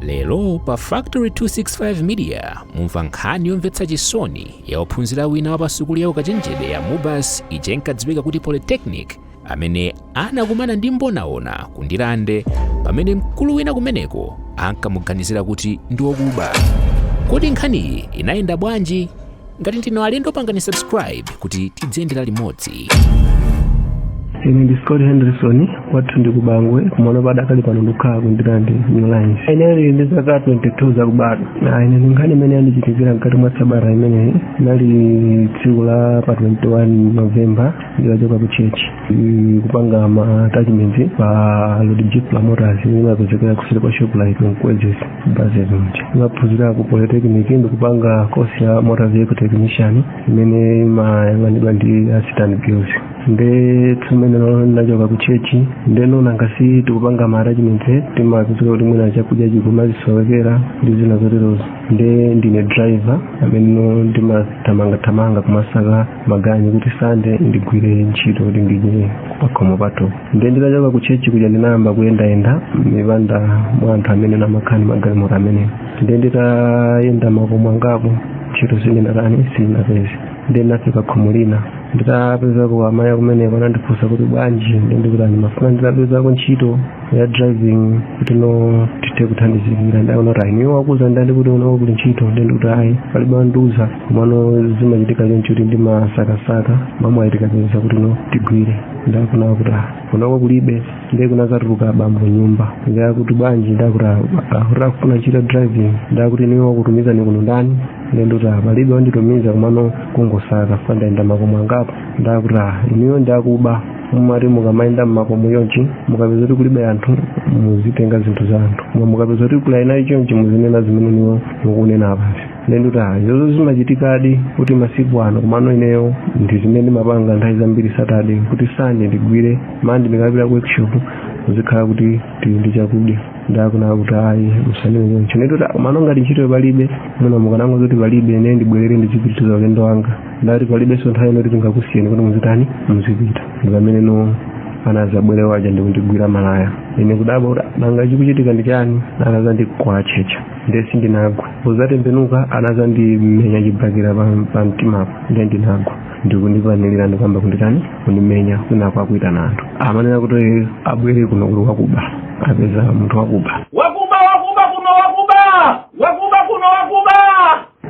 lero pa factory 265 media mumva nkhani yomvetsa chisoni ya ophunzira wina wa pasukulu ya ukachenjede ya mubas ija inkadziwika kuti polytechnic amene anakumana ndi mbonaona ku ndirande pamene mkulu wina kumeneko ankamuganizira kuti ndi wokuba kodi nkhaniyi inayenda bwanji ngati ndinu alendo pangani subscribe kuti tidziyendera limodzi ine ndi scott henderson kwathu ndi ku bangwe komano padakali pano ndikukhala ku ndirande new lines ine ndili ndi zaka 22 zakubadwa na ine ndi nkhani imene yandichitikira mkati mwa sabata imeneyi inali tsiku la pa 21 novemba nditachoka ku chechi kupanga ma attachment pa lodijip la motors imene imapezekera kuseri kwa shoprite mkwezy buses ndimaphunzira ku polytechnic ndikupanga kosi ya motor vehicle technician imene imayang'anidwa ndi a city and guilds nde tsiku limenelo ndinachoka ku chechi ndeno nanga si tikupanga ma attachment timapezeka kuti mwina chakudya chikumazisowekera ndi zina zoterozo nde ndine driver amene no ndimathamangathamanga kumasaka maganyu kuti sande ndigwire ntchito kuti ndidye pakhomo pathupo nde nditachoka ku chechi kuja ndinayamba kuyendayenda mmipanda mwa anthu amene amakhala ndi magalimoto amenewo nde nditayenda makomo angapo ntchito sindinatani sindinapeze nde ndinafika khomo lina nditapezako amayi akumeneko anandifunsa kuti bwanji nde ndikuti ndimafuna nditapezako ntchito ya driving kuti no tithe kuthandizikira nde akunena kuti ayi inuyo wakuuzani ndani kuti kunoko kuli ntchito nde ndikuti ayi palibe wandiuza komano zimachitika choncho kuti ndimasakasaka mwamwayi tikapeza kuti no tigwire nde akunena kuti ah, kunoko kulibe ndiye kunazatuluka abambo mnyumba nde akuti bwanji nde akuti ah, ah, kuti akufuna ntchito ya driving nde akuti inuyo wakutumizani kuno ndani nde ndikuti ah, palibe wanditumiza komano kungosaka fa ndayenda makomo angapo nde akuti ah, inuyo ndi akuba mumati mukamayenda mmakomo chonchi mukapeza kuti kulibe anthu muzitenga zinthu za anthu koma mukapeza kuti kuli eniwo chonchi muzinena zimene inuyo mukunena apazi nde ndikuti izozo zimachitikadi kuti masiku ano komano ineyo ndi zimene ndimapanga nthawi zambiri satade kuti sande ndigwire mande ndikapita ku workshop zikhala kuti tili ndi chakudya nde akunena kuti ayi musanene choncho nde ndikuti komano ngati ntchito palibe muno mukanango zoti palibe ine ndibwerere ndizipitiriza ulendo wanga nde ati palibenso nthawi ino yoti tingakusiyeni kuti muzitani muzipita ndi pamene no anazabwera uja ndikundigwira malaya ine kudabwa kuti nanga chikuchitika ndi chani anazandikwachecha nde sindinagwa kuzatembenuka anazandimenya chibakira pa- pa mtimapo nde ndinagwa ndikundipanilira ndikuyamba kunditani kundimenya kwinaku akuitana anthu amanena kuti abwere kuno kuti wakuba apeza munthu wakuba wakuba wakuba kuno wakuba wakuba kuno wakuba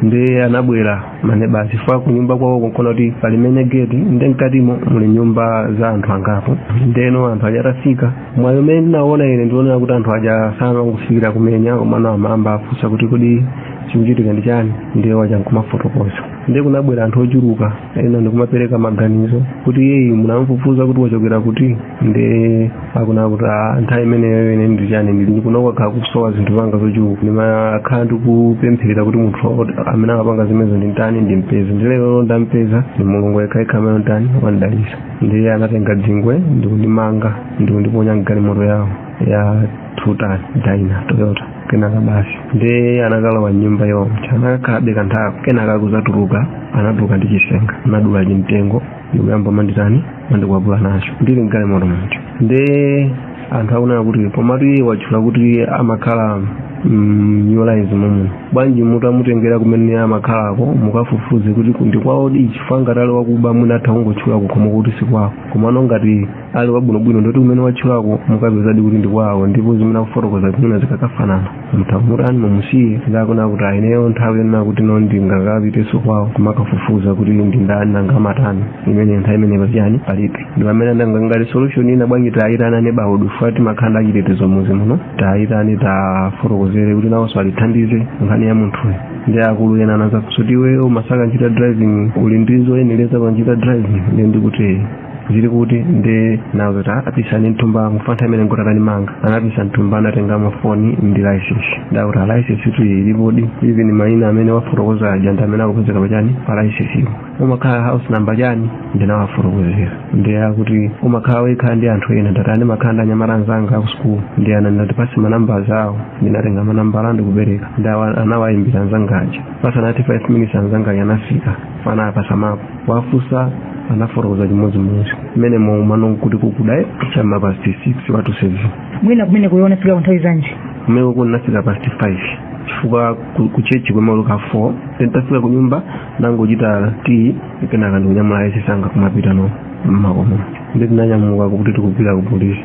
nde anabwera maneba chifukwa kunyumba kwawo kunkona kuti pali main geti nde mkatimo muli nyumba za anthu angapo ndeno anthu aja atafika mwayi umene ndinauona ine ndi wonena kuti anthu aja sanangofikira kumenya komano amayamba afunsa kuti kodi chikuchitika ndi chani ndiye waja nkumafotokoza nde kunabwera anthu ochuluka ena ndikumapereka maganizo kuti iyeyu munamfufuza kuti wachokera kuti nde akunena kuti "Ah, nthawi imeneyo ine ndi chani ndili kuno kwakhala kusowa zinthu zanga zochuluka ndimakhala ndikupempherera kuti munthu oti- amene akupanga zimenezo nditani ndimpeze nde lero ndampeza ndi mulungu yekhayekha amene watani wandidalisa ndiye anatenga dzingwe ndikundimanga ndikundiponya mgalimoto yawo ya tuta dyna toyota kenaka basi ndiye anakalowa mnyumba iwo anakakhalabe kanthawi kenaka kuzatuluka anatuluka ndi chisenga anadula chimtengo ndikuyamba manditani mandikwapula nacho ndili mgalimoto muja nde anthu akunena kuti komatu iye watchula kuti amakhala New Lines momuno bwanji mutamutengera kumene amakhalako mukafufuze kuti ndi kwaodi chifukwa ngati ali wakuba mwina atha kungotchula kukhomo koti si kwawo komano ngati ali wabwinobwino ndoti kumene watchulako mukapezadi kuti ndi kwawo ndipo zimene akufotokoza zimene zikakafanana mutha kumutani mumusiye nde akunena kuti a ineyo nthawi yonena kuti no ndingakapiteso kwawo kumakafufuza kuti ndi ndani nanga amatani imene nthawi imene pachani palibe ndi pamene andangangali solution ina bwanji tayitana neighbourhood chifukwa timakhala ndi achitetezo muzi muno tiwayitane tiwafotokozere kuti nawonso atithandize nkhani ya munthuyo nde akulu ena anafunsa kuti iweyo umasaka ntchito ya driving uli ndi zoyenereza pa ntchito ya driving nde ndikuti zili kuti ndinawauza kuti a pisani mthumba chifukwa nthawi imeneyo nkuti atandimanga anapisa mthumba anatengamo foni ndi license nde akuti a license tu ilipodi even maina amene wafotokoza aja ndi amene akupezeka pachani pa licensepo umakhala house number chani ndinawafotokozera nde akuti umakhala wekha ndi anthu ena ndati a ndimakhala ndi anyamata anzanga aku sukulu nde anati tipase manamba awo ndinatenga manambala ndikupereka nde anawayimbira anzanga aja pasanati 5 minutes anzanga aja anafika fana apasamapo wafusa anafotokoza chimodzimodzi mmene mwaumano kuti kukudaye chama past 6 quarter to 7 mwina kumeneko iwe unafika kunthawi zanji kumeneko ndinafika past 5 chifukwa ku- ku chechi timaweruka 4 then tafika ku nyumba nangochita tii kenaka ndikunyamula license yanga kumapitano mmakomo nde tinanyamuka kuti tikupita ku polisi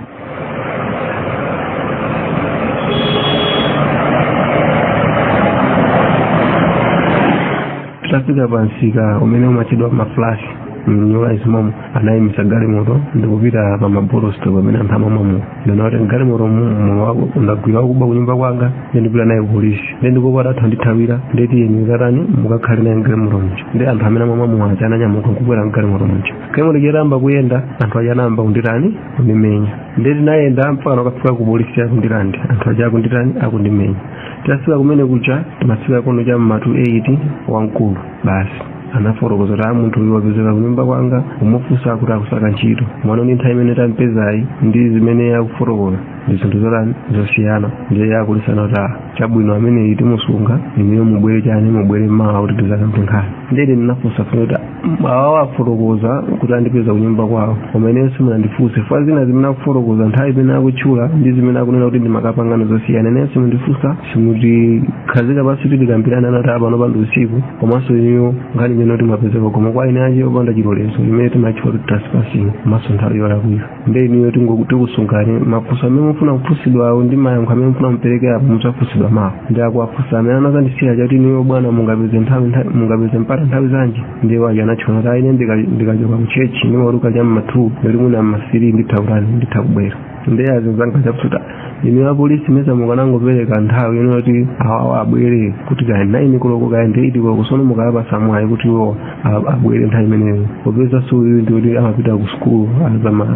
titafika pa msika umene umatchedwa maflash mu New Lines momo anayimisa galimoto ndikupita pa ma bottle store amene anthu amamwa mowa nde anati mgalimoto muli wakuba ndagwira wakuba kunyumba kwanga nde ndikupita naye kupolisi nde ndikuopa atha kundithawira nde tiyeni mukatani mukakhale naye mgalimoto muja nde anthu amene amamwa mowa aja ananyamuka nkubwera mgalimoto muja galimoto ija itayamba kuyenda anthu aja anayamba kunditani kundimenya nde tinayenda mpakana kukafika ku polisi a ku Ndirande anthu aja akunditani akundimenya titafika kumene kuja timafika kuno cha mma to 8 wamkulu basi anafotokoza kuti aa munthu uyu wapezeka kunyumba kwanga kumufunsa kuti akusaka ntchito mwana ndi nthawi imene tampezayi ndi zimene akufotokoza ndi zinthu zotani zosiyana ndiye apolisi anati chabwino ameneyu timusunga inuyo mubwere chani mubwere mawa kuti tizakambe nkhani nde ine ndinafunsa funso kuti awawa afotokoza kuti andipeza kunyumba kwawo koma ineyo simunandifunse fukwa zina zimene akufotokoza nthawi imene akutchula ndi zimene akunena kuti ndimakapanga ndi zosiyana ineyo simundifunsa simutikhazika pansi kuti tikambirane anati aa panopa ndi usiku komanso inuyo nkhani imene kuti mwapezeka kukhomo kwa eni ake opanda chilolezo imene timatchula kuti trespassing komanso nthawi yolakwira nde inuyo tingo- tikusungani mafunso amene mufuna kufunsidwawo ndi mayankho amene mufuna muperekepo mudzafunsidwa mawa nde akuwafunsa amene anazandisiya aja kuti inuyo bwana mungapeze nthawi nthawi- mungapeze mpata nthawi zanji ndiye waja anatchula kuti aa ine ndika- ndikachoka ku chechi ndimaweruka cha mmathu ndekuti mwina mmathiri nditha kutani nditha kubwera nde azinzanga aja akuti inuyo apolisi mesa mukanangopereka nthawi inu yoti awawa abwere kuti kaya naini koloko kaya eiti koloko sono mukawapasa mwayi kuti iwo a- abwere nthawi imeneyo popezaso uyu ndi oti amapita ku sukulu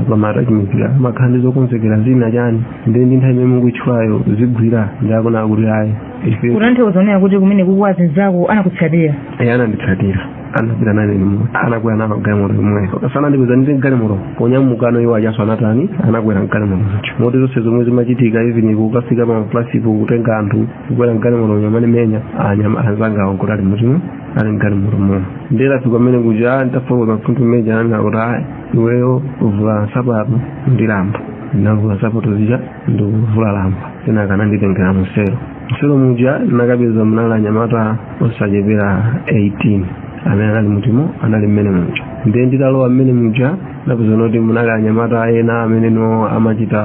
pamaatachimikira amakhala ndi zokonzekera zina chani ndi ndi nthawi imene mukuitchulayo zigwira ndi akona akuti ayi ife kutanthauza kunena kuti kumeneku azinzako anakutsatira eyi ananditsatira anapita nane limodzi anakwera nawo galimoto limwezo kasana ndipeza ndiri mgalimoto ponyamukano iwo ajaso anatani anakwera mgalimoto muja moti zonse zomwe zimachitika even kukafika pa plasipo kutenga anthu kukwera mgalimoto amandimenya anzanga awo nkuti ali mutimo ali mgalimotomo nde tafika kumene kuja ah, nditafotokoza mfundo imene ija ananena kuti ayi iweyo vula nsapato ndi lamba ndinavula nsapato zija ndikuvula lamba kenaka ananditengera mu selo mu selo muja ndinakapeza munali anyamata osachepera 18 amene anali mutimo anali mmene muja ndiye nditalowa mmene muja ndapeza kuti munali anyamata ena amene no amachita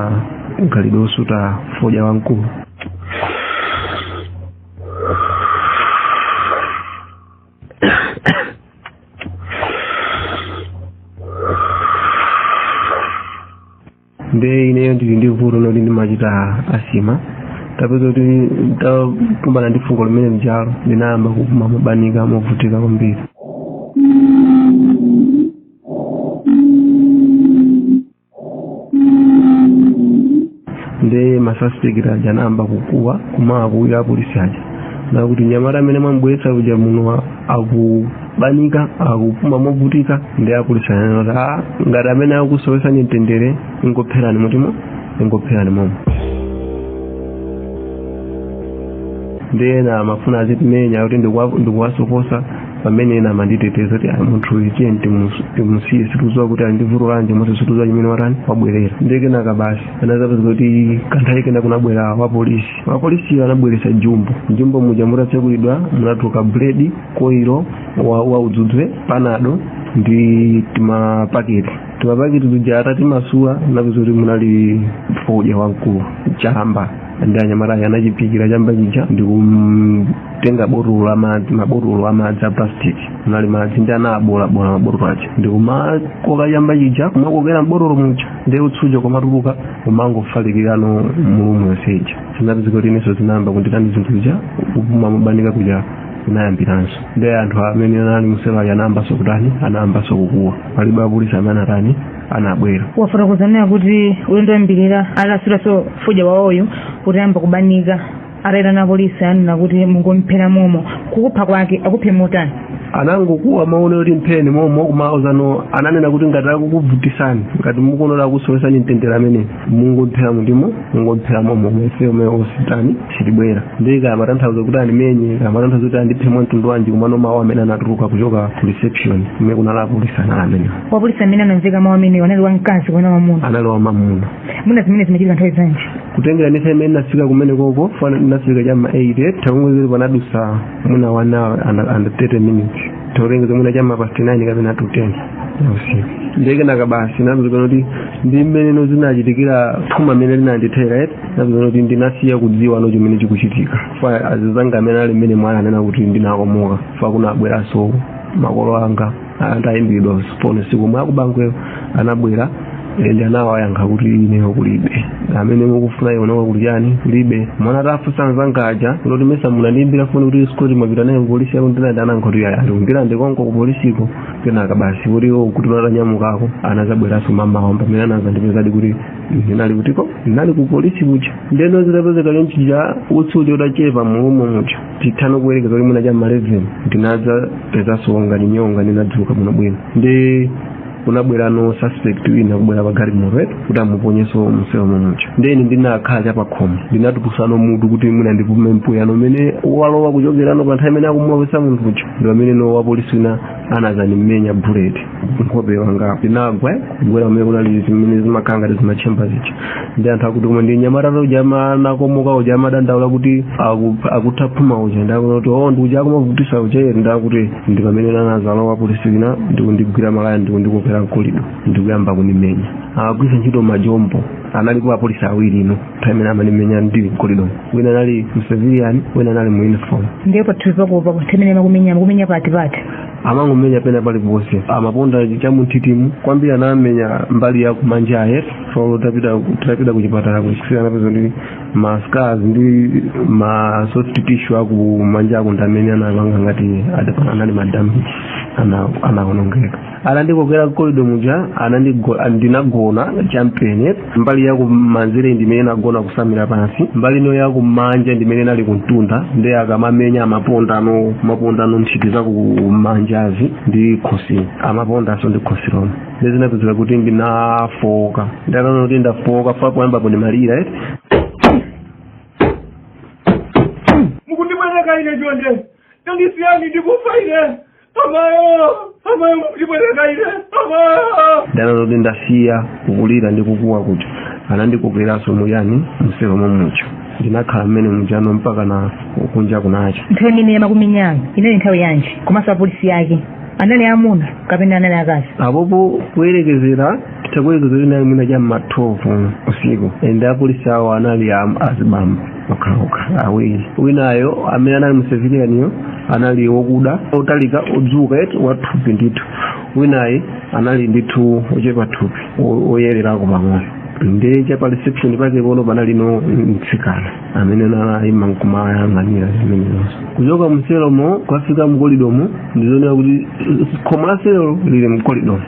mkhalidwe osuta fodya wamkulu nde ineyo ndili ndi vuto loti ndimachita asima tapeza kuti ndakumbana ndi fungo limene lijalo ndinayamba kupuma mobanika movutika kwambiri nde masuspect aja anayamba kukuwa kumawakuwira apolisi aja nakuti mnyamata amene mwambweretsa uja muno aku banika akupuma movutika ndi apolisi ananena kuti a ngati amene akusowesani mtendere mungomupherani mutimo mungomupherani momo ndi ena amafuna azitimenya kuti ndikuwa- ndikuwasokosa pamene ena amanditeteza kuti "Ah, munthu uyu tiye timusiye sitikuziwa kuti andivurulanje mose sitikuziwa chimene watani wabwerera nde kenaka basi ndinazapeza kuti kanthawi kena kunabwera wapolisi wapolisi anabweresa jumbo jumbo muja mutatsegulidwa munatuluka buledi koilo wa, wa udzudzu panado ndi timapaketi timapaketi tuja atatimasula ndinapeza kuti munali fodya wamkulu chamba ndi anyamata aja anachipikira chamba chija ndikutenga mabotolo a madzi mabotolo a madzi a plastic munali madzi ndi anaboolaboola mabotolo aja ndikumakoka chamba chija kumakokera mbotolo muja ndi utsi uja kumatuluka kumangofalikira mu room yonse ija zinapezeka kuti inenso zinayamba kunditani zinthu zija kupuma mobanika kuja inayambiranso ndi anthu amene anali muselo aja anayambanso kutani anayambanso kukuwa palibe apolisi amene anatani anabwera mwafotokoza muja kuti ulendo woyambirira asanasute fodya wawoyu mutayamba kubanika atayitana apolisi ananena kuti mungomphera momo kukupha kwake akuphe motani anangokuwa mawu onena kuti mpheni momo kumauzano ananena kuti ngati akukuvutisani ngati mukuona akusowesani mtendere ameneyi mungomphera mutimo mungomphera momo ife sititani sitibwera ndiye kaya amatanthauza kuti andimenye kaya amatanthauza kuti andiphe mwa mtundu wanji komano mawu amene anatuluka kuchoka ku reception kumene kunali apolisi anali amenewo wapolisi amene anamveka mawu amenewo anali wamkazi kapena wamuna anali wamamuna mwina zimenezi zimachitika nthawi zanji kutengera ndi imene ndinafika kumene kokuko ndinafika cha ma 8 tingoyerekeza panadusa mwina 1 hour and 30 minutes tingoyerekeza mwina cha ma past 9 kapena to 10 ndikenaka basi zinapezekano kuti ndi mmene zinachitikira phuma limene linandithera eti zinapezekano kuti ndinasiya kudziwa no chimene chikuchitika chifukwa azinzanga amene anali mmenemo ananena kuti ndinakomoka chifukwa kunabweranso makolo anga atayimbidwa foni usiku omwewo ndi akubangweyo anabwera ndi anawayankha kuti ineyo kulibe amene mukufuna iwowo kuti chani kulibe mwana atafusa anzanga aja kuti mesa munandiimbira foni kuti Sikoti mwapita naye kupolisi yake iti nde anayankha kuti ayi ali ku Limbe ndi konko kupolisiko kenaka basi akuti iwo atanyamukako anazabweranso mamawa pamene anazandipezadi kuti ndinali kutiko ndinali ku polisi kuja ndeno zitapezeka chonchija utsi uja utachepa mu room muja tithana kuwerekeza kuti mwina cha maleveni ndinadzapezanso ngati nyonga ndinadzuka bwinobwino ndi kunabwerano suspect wina kubwera pa galimoto kuti amuponyenso mselo mumuja ndeni ndinakhala chapakhomo ndinatulutsano mutu kuti mwina ndipume mpweyano umene walowa kuchokerano pa nthawi imene akumulowesa munthu uja ndi pameneno wapolisi wina anazanimenya buleti nkhope wanga ndinagwa kugwera kumene kunali zimene zimakhala ngati zimatchemba zija ndi anthu akuti koma ndi mnyamata uja anakomoka uja amadandaula kuti aku- akutha phuma uja ndakuti o ndi uja akumavutisa uja eti ndakuti ndi pamene anazalowa wapolisi wina ndikundigwira malaya ndikundikokera mkolido ndikuyamba kunimenya agwisa ntchito majombo analipo apolisi awiri ino nthawi imene amanimenya ndili mkolidomo wina anali mcivilian wina anali mu uniform ndiye pathupi pakopa kuti mmene amakumenya amakumenya pati pati amangomenya pena paliponse amaponda cha munthitimu kwambiri anamenya mbali ya kumanjayi so tapita tapita kuchipatala ku x-ray anapeza ndi ma scars ndi ma soft tissue akumanjako ndamene anapanga ngati adapanga anali madamage ana anaonongeka anandikokera mkolido muja anandigo- ndinagona champene mbali ya kumanzere ndimene inagona kusamira pansi mbali ino ya kumanja ndimene inali kumtunda nde akamamenya amapondano amapondano nthiti za kumanjazi ndi khosi amapondanso ndi khosi lomwe nde zinapezeka kuti ndinafooka ndataona kuti ndafooka fa poyambapo ndimalira eti mukundipweteka ine chonde tandisiyani ndikufa ine amayo amayo mukundipweteka ine amayo ndataona kuti ndasiya kukulira ndi kukuwa kuja anandikokeranso muyani mselo mommuja ndinakhala mmene mujano mpakana kunja kunacha nthawi imene amakumenyayi inali nthawi yanji komanso apolisi yake anali amuna kapena anali akazi apopo kuyerekezera titakuyerekezera inali mwina cha mma 12 usiku and apolisi awo anali am- azibambo okhaokha awiri winayo amene anali mu civilianiyo anali wokuda otalika odzuka eti wathupi ndithu winayi anali ndithu ochepa thupi o- oyererako pang'ono ndi cha pa reception pakepono panalino mtsikana amene anayima nkumayang'anira zimenezonso kuchoka mselomo kukafika mkolidomo ndizonera kuti khomo la selo lili mkolidomo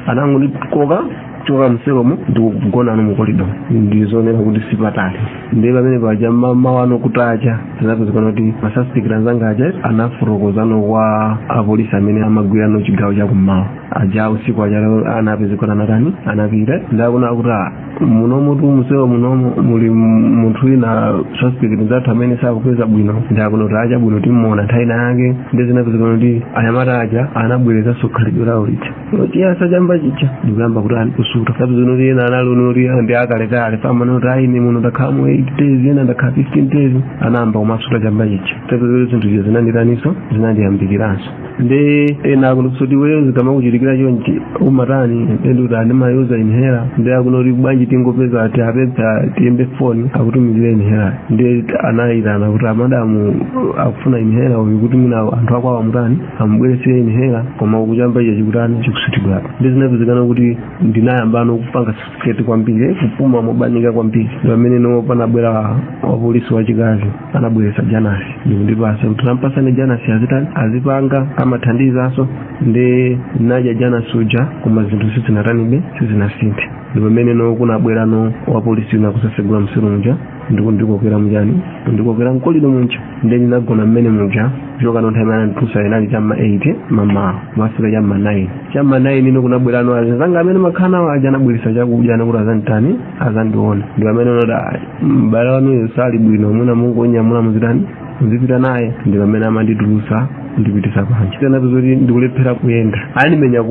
anangondikoka choka mselomo ndikugonano mukolido ndizonera kuti sipatali ndiye pamene paja mamawano kutacha zinapezekana kuti masuspect anzanga aja anafotokozano kwa apolisi amene amagwirano chigawo chakummawa aja usiku aja anapezeka anatani anapita ndakunena kuti "Ah, munomotu mselo munomo muli munthu wina suspect nzathu amene sakupeza bwino ndakunena kuti ah chabwino timuona nthawi yake ndiye zinapezekana kuti anyamata aja anabwerezanso khalidwe lawo lija kuyasa chamba chija ndikuyamba kutani kusuta zapezekano kuti ena analino oti ndi akalekale pamano kuti ayi ine muno ndakhala mu 8 days ena ndakhala 15 days anayamba kumasuta chamba chija zapezeka zinthu izo zinanditaniso zinandiyambikiranso ndi ena akunena kuti iweyo zikamakuchitikira chonchi umatani ndi kuti ndimayuza inhaler nde akunena kuti bwanji tingopeza tiwapemphe tiyimbe foni akutumizire inhaler ndi anayitana kuti amadamu akufuna inhaler uyu kuti mwina anthu akwawo amutani amubweretsere inhaler koma uku chamba chija chikutani chikusutidwabe ndi zinapezekana kuti ndinayambano kupanga suffocate kwambiri kupuma mobanika kwambiri ndi pamene no panabwera wapolisi wachikazi anabweretsa janasi ndikundipasa kuti tampasani janasi azitani azipanga amathandizanso ndinadya janasi uja koma zinthu sizinatanibe sizinasinthe ndi pamene no kunabwerano wapolisi wina kuzasegula mu cell muja ndikundikokera mu chani ndikokera mu corridor muja nde ndinagona mmene muja kuchoka no nthawi imene amanditulusa inali chamma 8 mamawa kumafika chamma 9 chamma 9 ino kunabwerano azanga amene ndimakhala nawo aja anabweresa chakudya ndi kuti azanditani azandione ndi pamene anati mbale wanuyo sali bwino mwina mungonyamula muzitani muzipita naye ndi pamene amanditulusa ndipitisa panja zinapezeka kuti ndikulephera kuyenda anandimenya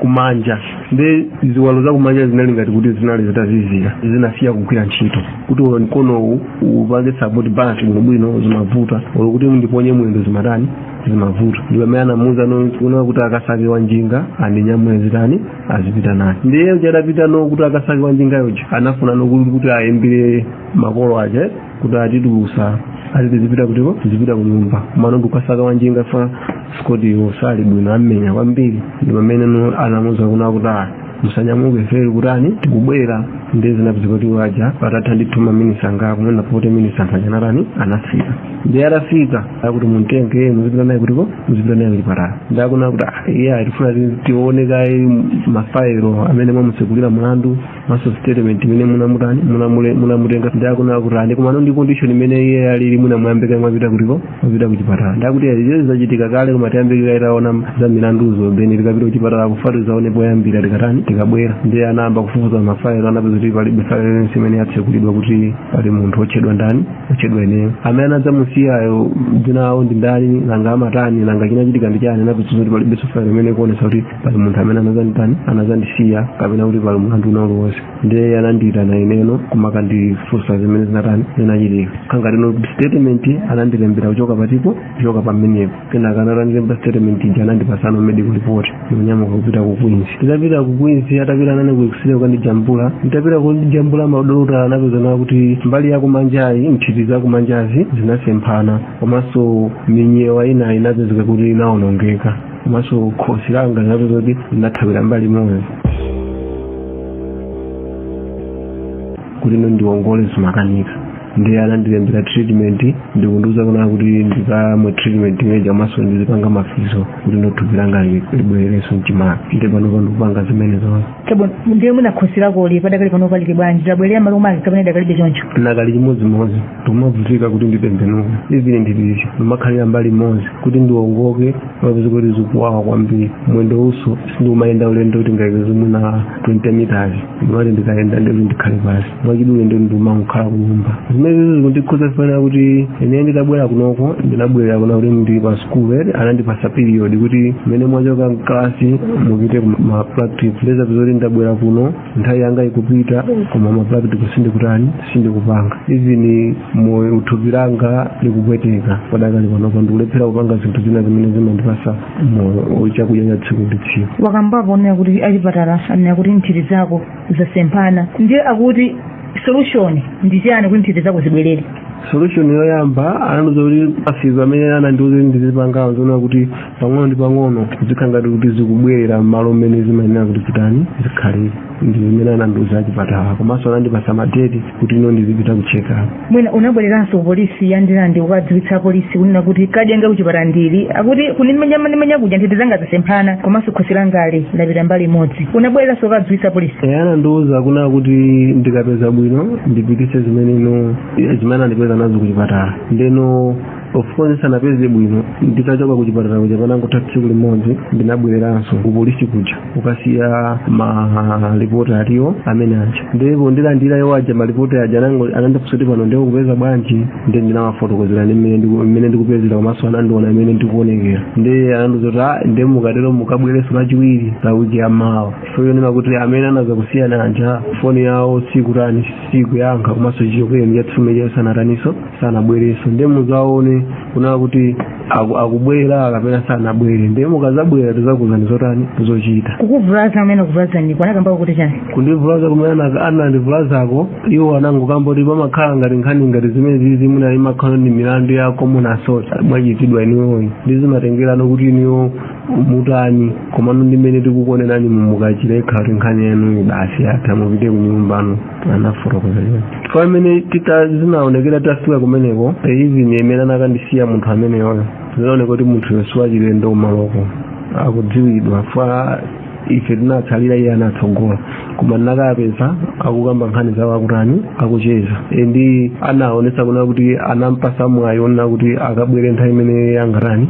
kumanja ndi ziwalo zakumanja zinali ngati kuti zinali zitazizira zinasiya kugwira ntchito kuti olo mkonowu upange support balance bwinobwino zimavuta olo kuti ndiponye mwendo zimatani zimavuta ndi pamene anamuuzano kunena kuti akasake wa njinga andinyamule azitani azipita naye ndiye uja adapitano kuti akasake wa njinga uja anafunano kuti ayimbire makolo aja kuti atitulusa ati tizipita kutiko tizipita kunyumba komano ndikukasaka wanjinga chifukwa choti sali bwino ammenya kwambiri ndi pamene no anamuza kunena kuti ayi musanyamuke ife tikutani tikubwera nde zinapezeka kuti waja patatha ndithu maminisi angapo mwina 40 minisi anthu aja anatani anafika ndi atafika akuti muntenge muzipita naye kutiko muzipita naye kuchipatala nde akunena kuti ah, ife tifuna tione kaye mafairo amene mwamutsegulira mlandu maso statement imene munamutani munamule- munamutenga nde akunena kuti ayi komano ndi condition imene iye alili mukanayamba kaye mwapita kutiko mwapita kuchipatala ndakuti izo zachitika kale koma tiyambe kaye taona za milanduzo then tikapita kuchipatala akufatu zaone poyambira tikatani tikabwera ndiye anayamba kufufuza mafailo anapeza kuti palibe failo imene yatsekulidwa kuti pali munthu otchedwa ndani otchedwa ineyo amene anadzamusiyayo dzina lawo ndi ndani nanga amatani nanga chinachitika ndi chani anapeza kuti palibe failo imene ikuonesa kuti pali munthu amene anazanditani anazandisiya kapena kuti pali mulandu wina uliwonse ndiye anandiyitana ineno kumakandifunsa zimene zinatani zinachitika kangatino statement anandilembera kuchoka patipo kuchoka pamenepo kenaka atandilemba statement ija anandipasano medical report ndikunyamuka kupita ku queens nditapita ku queens atapita nane ku x-ray kukandijambula nditapita kundijambula madokotala anapezano kuti mbali yakumanjayi nthiti zakumanjazi zinasemphana komanso minyewa ina inapezeka kuti inaonongeka komanso khosi langa linapeza kuti linathawira mbali imodzi kuti no ndiwongole zimakanika ndiye anandilembera treatment ndikundiuza kuna kuti ndikamwe treatment imeja komanso ndizipanga ma physio kuti no thupi langa li- libwererenso mchimake nde panopa ndikupanga zimene zonse chabwino ndiye mwina khosi lakoli padakali panopa lili bwanji labwerera malo make kapena lidakalibe choncho nakali chimodzimodzi ndimavutika kuti nditembenuke even ndipite ndimakhalira mbali imodzi kuti ndiwongoke mapeza kuti zikuwawa kwambiri mwendowunso sindimayenda ulendo tingayerekeze mwina 20 meters ndimati ndikayenda ndikuti ndikhale pansi mwachidule nde ndimangokhala kunyumba zimenezo zikundikhudza fanira kuti ine nditabwera kunoko ndinabwerera kuna kuti ndili pa sukulu ere anandipasa period kuti mmene mwachoka mkalasi mupite ku ma practical nde zapeza kuti ndabwera kuno nthawi yanga ikupita koma ma practical sindikutani sindikupanga even moyo thupi langa likupweteka padakali panopa ndikulephera kupanga zinthu zina zimene zimandipasa moyo chakudya cha tsiku ndi tsiku wakambapo onena kuti achipatala anena kuti nthiti zako zasemphana ndiye akuti solution ndi chiyani kuti nthiti zako zibwerere solution yoyamba anandiuza kuti ma physio amene anandiuza kuti ndizipangawo zoona kuti pang'ono ndi pang'ono zikhala ngati kuti zikubwerera m'malo mmene zimayenera kuti zitani zikhalire ndi zimene anandiuza achipatala komanso anandipasa madeti kuti ino ndizipita ku check up mwina unabwereranso ku polisi ya Ndirande kukadziwitsa polisi kunena kuti kadi yanga kuchipatala ndili akuti kundimenya anandimenya kuja nthiti zanga zasemphana komanso khosi langali lapita mbali imodzi unabwereranso kukadziwitsa polisi Eh, anandiuza kuna kuti ndikapeza bwino ndipitise zimene ino zimene andipeza nazo kuchipatala ndeno of course ndisanapeze bwino nditachoka ku chipatala kuja panangotha tsiku limodzi ndinabwereranso ku polisi kuja kukasiya malipoti aliwo amene aja ndipo ndilandira iwo aja malipoti aja anango- anandifunsa kuti pano ndikupeza bwanji ndi ndinawafotokozera ndi mmene ndiku- mmene ndikupezera komanso anandiona mmene ndikuonekera ndi anandiuza kuti "Ah, ndi mukatero mukabwerenso lachiwiri la wiki ya mawa foyo ndima kuti amene anazakusiyani aja foni yawo sikutani sikuyankha komanso chichokereni chatsifume chayo sanataninso sanabwerenso nde muzaone kunaa kuti aku- akubwera kapena sanabwere nde mukazabwera tizakuuzani zotani zochita kukuvulaza amene anakuvulazaniku anakambako kuti chani kundivulaza kumene ana- anandivulazako iwo anangokamba kuti pamakhala ngati nkhani ngati zimenezizi mwina imakhala ndi milandu ya common assault mwachitidwa inuyoyi ndi zimatengerano kuti inuyo mutani komano ndi mmene tikukuonerani mukachire ngati nkhani yanu basi yatha mupite kunyumba anafotokoza choncho chifukwa mmene tita zinaonekera tafika kumeneko even mmene anakandisiya munthu ameneyoyo zinaoneka kuti munthuyo siwachilendo kumaloko akudziwidwa fa ife tinatsalira iye anatsogola koma ndinakapeza akukamba nkhani zawo akutani akucheza ndi anaonesa kuna kuti anampasa mwayi onena kuti akabwere nthawi imene angatani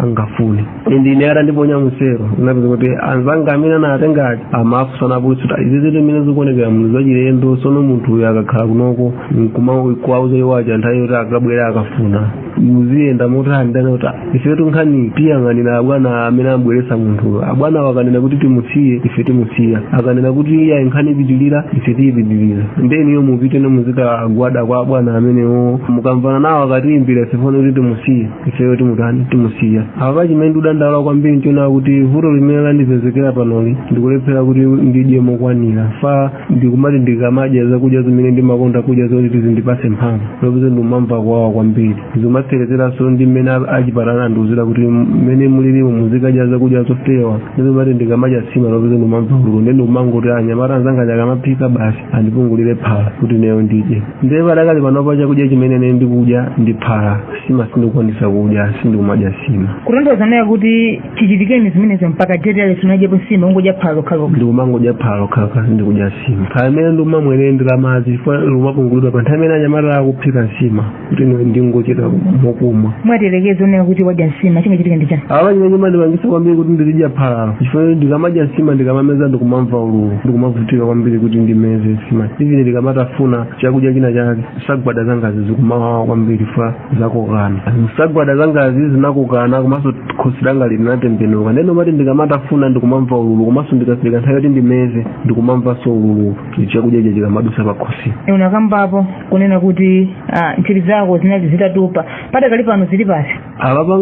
angafune ndine atandiponya musero unapeza kuti anzanga amene anatenga aja amafunsana kuti izi zinthu zimene zikuonekera munthu zachilendo sono munthu uyu akakhala kunoko nkumakuwauza iwo aja nthawi yoti akabwera akafuna muziyenda motani anena kuti ifetu nkhani tiyang'anira abwana amene abweresa munthu abwana akanena kuti timusiye ife timusiya akanena kuti iyayi nkhani ipitilira ife tiyipitilira ndeniyo mupite muzikagwada kwa abwana amenewo mukamvana nawo akatiimbira foni kuti timusiye ifeyo timutani timusiya apa chimene ndikudandaula kwambiri nchonena kuti vuto limene landipezekera panoli ndikulephera kuti ndidye mokwanira chifukwa ndikumati ndikamadya zakudya zimene ndimakonda kudya zoti zindipase mphamvu lopeza ndikumamva kuwawa kwambiri zikumatserezeranso ndi mmene a- achipatala andiuzira kuti mmene mulilimu muzikadya zakudya zofewa ndiye zikumati ndikamadya sima lopeza ndikumamva ululu nde ndikumangoti anyamata anzanga akamaphika basi andipungulire phala kuti ineyo ndidye ndiye padakali panopa chakudya chimene ine ndikudya ndi phala sima sindikukwanisa kudya sindikumadya sima kutanthauza kunena kuti chichitikeni zimenezo mpaka date ya lero sunadyepo sima ungodya phala lokhalokha ndikumangodya phala lokhalokha sindikudya sima phala limene ndikumamwa ndi la madzi chifukwa likumapungulidwa pa nthawi imene anyamata akuphika nsima kuti ine ndingochita mokumwa mwati tiyerekeze kunena kuti wadya nsima chingachitika ndi chani apa chimene chimandipangisa kwambiri kuti ndizidya phalalo chifukwa ndikamadya nsima ndikamameza ndikumamva ululu ndikumavutika kwambiri kuti ndimeze nsima even ndikamatafuna chakudya china chake nsagwada zangazi zikumawawa kwambiri chifukwa zakokana nsagwada zangazi zinakokana komanso khosi langa linatembenuka ndeno kumati ndikamatafuna ndikumamva ululu komanso ndikafika nthawi yoti ndimeze ndikumamvanso ululu chakudya chija chikamadusa pakhosi unakambapo kunena kuti ah, nthiti zako zinali zitatupa padakali pano zili pasi apapa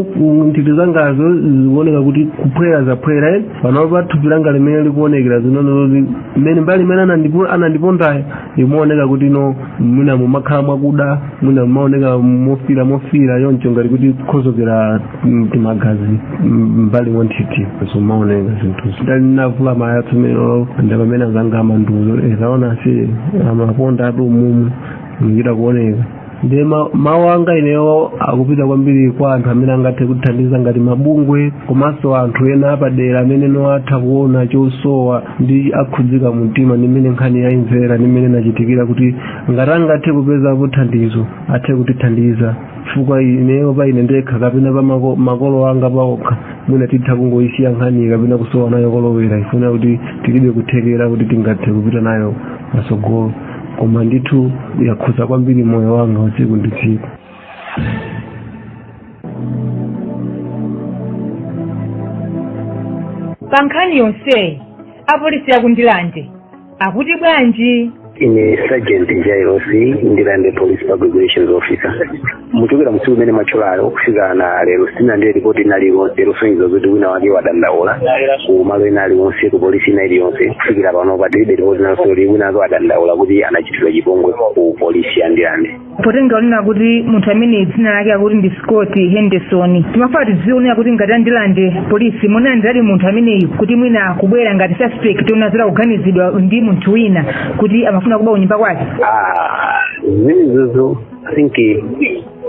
nthiti zangazo zikuoneka kuti kuphwera zaphwera eh? panopa pa thupi langa mmene likuonekera zinali zoti mmene mbali imene anandipo- anandipondayo imaoneka kuti mwina mumakhala mwakuda mwina mumaoneka mofira mofira choncho ngati kuti kukhuthukira timagazi mbali mwa nthiti zomaoneka zinthuzi ndikavula malaya tsono ndi pamene azanga amandiuza kuti waona si amaponda athu umumu ndikuchita kuoneka ndiye ma- mawu anga ineyo akupita kwambiri kwa anthu amene angathe kutithandiza ngati mabungwe komanso anthu ena apadera amene nawo atha kuona chosowa ndi akhudzika mu mtima ndi mmene nkhani yayimvera ndi mmene inachitikira kuti ngati angathe kupeza thandizo athe kutithandiza chifukwa ineyo pa ine ndekha kapena pa mako- makolo anga paokha mwina titha kungoyisiya nkhaniyo kapena kusowa nayo kolowera chifukwa chakuti tilibe kuthekera kuti tingathe kupita nayo patsogolo koma ndithu yakhuza kwambiri moyo wanga usiku ndi tsiku pa nkhani yonseyi apolisi akundilande akuti bwanji ine sergeant jairosi ndirande police public relations officer muchokera tsiku imene mwatchulayo kufika na lero sindinalandire ripoti ina iliyonse losonyeza kuti wina wake wadandaula ku malo ina aliwonse ku polisi ina iliyonse kufikira pano patilibe ripoti ina yoti wina wake wadandaula kuti anachitidwa chipongwe ku polisi ya ndirande potengera kunena kuti munthu amene dzina lake akuti ndi scott henderson timafuna tidziwe kunena kuti ngati a ndirande polisi munamulandiradi munthu ameneyu kuti mwina kubwera ngati suspect monga za kuganizidwa ndi munthu wina kuti amafuna kuba kunyumba kwake zimenezozo i think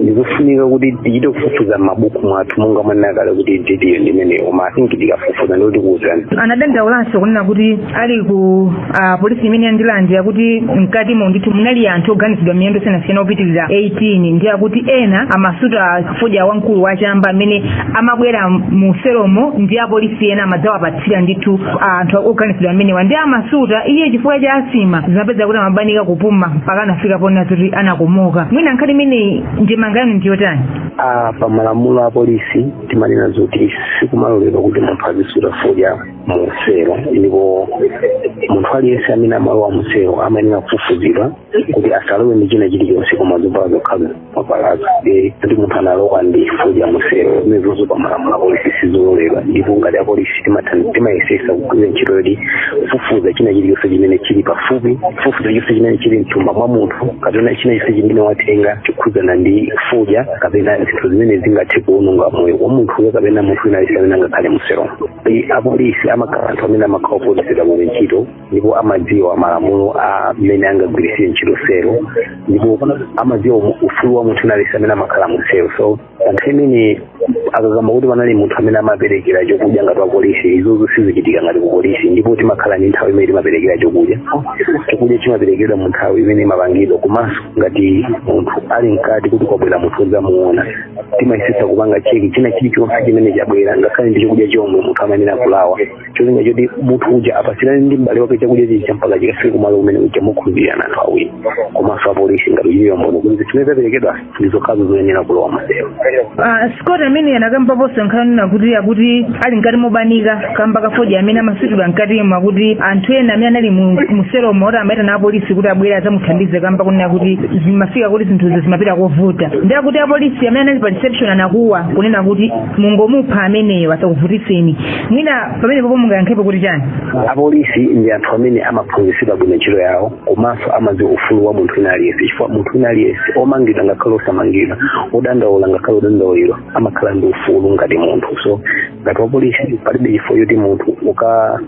ndizofunika kuti tichite kufufuza m'mabuku mwathu monga mwanena kale kuti video ndimeneyo koma i think tikafufuza ndiye tikuwuzani anadandaulanso kunena kuti ali ku ah, polisi imeneyi ya ndirande akuti mkatimo ndithu munali anthu oganizidwa milandu yosiyanasiyana opitirira 18 ndi akuti ena amasuta fodya wamkulu wachamba amene amabwera mu selomo ndi apolisi ena amadzawapatsira ndithu ah, anthu oganizidwa amenewa ndi amasuta iye chifukwa cha asthma zimapezeka kuti amabanika kupuma mpaka anafika ponena zoti anakomoka mwina nkhani imeneyi ndemanga yanu ndiyotani a pamalamulo a polisi timanena zoti sikumaloledwa kuti munthu azisuta fodya muselo ndipo munthu aliyense amene amalowa muselo amayenera kufufuzidwa kuti asalowe ndi china chilichonse koma zovala zokhazo nkhani zoti munthu analowa ndi fodya muselo zimenezozo pamalamulo apolisi sizololedwa ndipo ngati apolisi timathan- timayesesa kugwira ntchito yoti kufufuza china chilichonse chimene chili pafupi kufufuza chilichonse chimene chili mthumba mwa munthu kapena china chonse chimene watenga chokhudzana ndi fodya kapena zinthu zimene zingathe kuononga moyo wa munthuyo kapena munthu wina aliyense amene angakhale muselo Ndi apolisi amakhala anthu amene amakhala ophunzitsidwa bwino ntchito ndipo amadziwa malamulo a mmene angagwiritsire ntchito selo ndipo amadziwa umu- ufulu wa munthu wina aliyense amene amakhala mu selo so pa nthawi imene akukamba kuti panali munthu amene amaperekera chokudya ngati wapolisi izozo sizichitika ngati kupolisi ndipo timakhala ndi nthawi imene timaperekera chokudya chokudya chimaperekedwa mu nthawi imene imapangidwa komanso ngati munthu ali mkati kuti kwabwera munthu wodzamuona timayesetsa kupanga cheki china chilichonse chimene chabwera ngakhale ndi chakudya chomwe munthu amayenera kulawa cholinga choti munthu uja apatsirane ndi m'bale wake chakudya chija mpaka chikafike kumalo kumene uja mokhulupirirana anthu awiri komanso apolisi ngati kuchitira umboni kuti zimene zaperekedwa ndi zokhazo zoyenera kulowa maselo Ah, scott ameneyu anakambaponso nkhani yakuti akuti ali mkati mobanika kamba ka fodya amene amasutidwa mkatimo akuti anthu ena amene anali mu- muselomo akuti amaitana apolisi kuti abwere adzamuthandize kamba kunena kuti zimafika kuti zinthuzo zimapita kovuta ndi akuti apolisi amene anali pa reception anakuwa kunena kuti mungomupha ameneyo asakuvutitseni mwina pamenepopo mungayankhepo kuti chani apolisi ndi anthu amene amaphunzitsidwa bwino ntchito yawo komanso amadziwa ufulu wa munthu wina aliyense chifukwa munthu wina aliyense omangidwa ngakhale osamangidwa odandaula ngakhale odandauliridwa amakhala ndi ufulu ngati munthu so ngati wapolisi palibe chifukwa choti munthu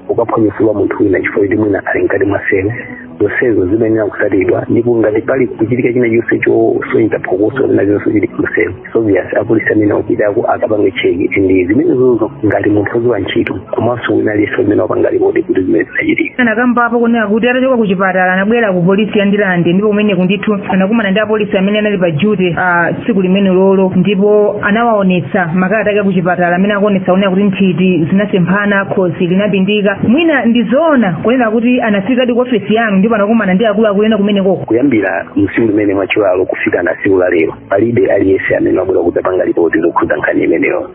ukaphwanye ufulu wa munthu wina chifukwa choti mwina ali mkati mwa selo zonsezo zimayenera kusatidwa ndipo ngati pali kuchitika china chonse chosonyeza phokoso lina chonse chili mselo so obvious apolisi amene wapitako akapange check ndi zimenezozo ngati munthu woziwa ntchito komanso wina aliyense amene wapanga lipoti kuti zimene zinachitika anakambapo kunena kuti atachoka ku chipatala anabwera ku polisi ya ndilande ndipo kumeneko ndithu anakumana ndi apolisi amene anali pa duty ah, tsiku limenelolo ndipo anawaonetsa makalata ake akuchipatala amene akuonetsa kunena kuti nthiti zinasemphana khosi linapindika mwina ndi zoona kunena kuti anafikadi ku ofesi yanu ndipo anakumana ndi akuluakulu ena kumenekoko kuyambira msiku limene mwatchulalo kufika na siku la lero palibe aliyense amene wabwera kudzapanga lipoti lokhudza nkhani imeneyo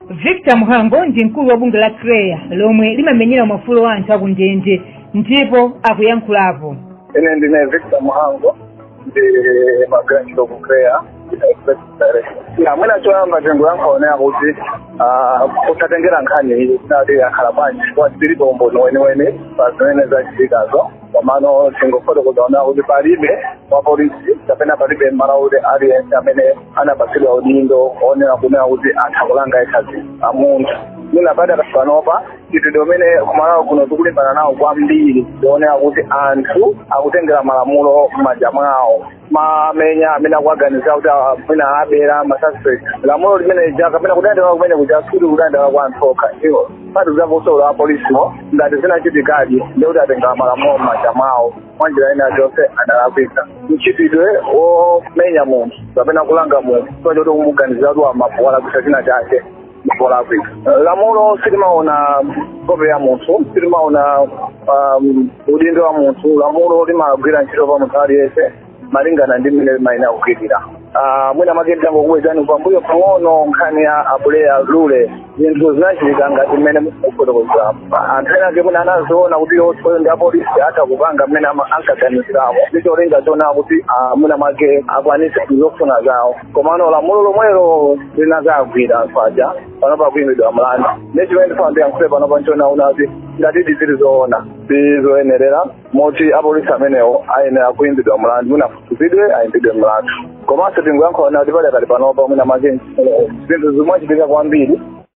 victor mhango ndi mkulu wa bungwe la CHREAA lomwe limamenyera maufulu a anthu akundende ndipo akuyankhulapo ine ndine victor mhango ndi ndimagwira ntchito ku CHREAA ah mwina choyamba tingoyankha kunena kuti posatengera nkhani iyi kuti yakhala bwanji chifukwa tilibe umboni weniweni pa zimene zachitikazo komano tingofotokoza kunena kuti palibe wa polisi kapena palibe mMalawi aliyense amene anapatsidwa udindo onena kunena kuti atha kulanga either mkazi a munthu mwina pakati panopa mchitidwe umene kuMalawi kuno tikulimbana nawo kwambiri ndi wonena kuti anthu akutengera malamulo m'manja mwawo kumamenya amene akuwaganizira kuti ah, mwina abera masuspect lamulo limene lija kapena kudandaula kumene kuja sikuti kukudandaula kwa anthu okha ayi komanso apolisiwo ngati zinachitikadi nde kuti atengera malamulo m'manja mwawo mwa njira ina yonse adalakwitsa mchitidwe womenya munthu kapena kulanga munthu chifukwa choti ukumuganizira kuti waba kapena walakwitsa china chake dziko la africa lamulo silimaona nkhope ya munthu silimaona um, udindo wa munthu lamulo limagwira ntchito pa munthu aliyense malingana ndi mmene limayenera kugwirira Ah, mwina make ndangokubwezani pambuyo pang'ono nkhani ya a Buleya lule zinthu zinachitika ngati mmene mukufotokozera anthu ena ake mwina anaziona kuti iwowo ndi apolisi atha kupanga mmene ama- ankaganiziramo ndicholinga chonena kuti ah, mwina make akwanise zofuna zawo komano lamulo lomwelo linazawagwira anthu aja panopa akuimbidwa mlandu nde chimene ndifuna ndiyankhule panopa nchonena kuti ngati izi zili zoona si zoyenerera moti apolisi amenewo ayenera kuimbidwa mlandu mwina afufuzidwe aimbidwe mlandu komanso tingoyankhula kuti pakadali panopa mwina make izi zinthu zikumachitika kwambiri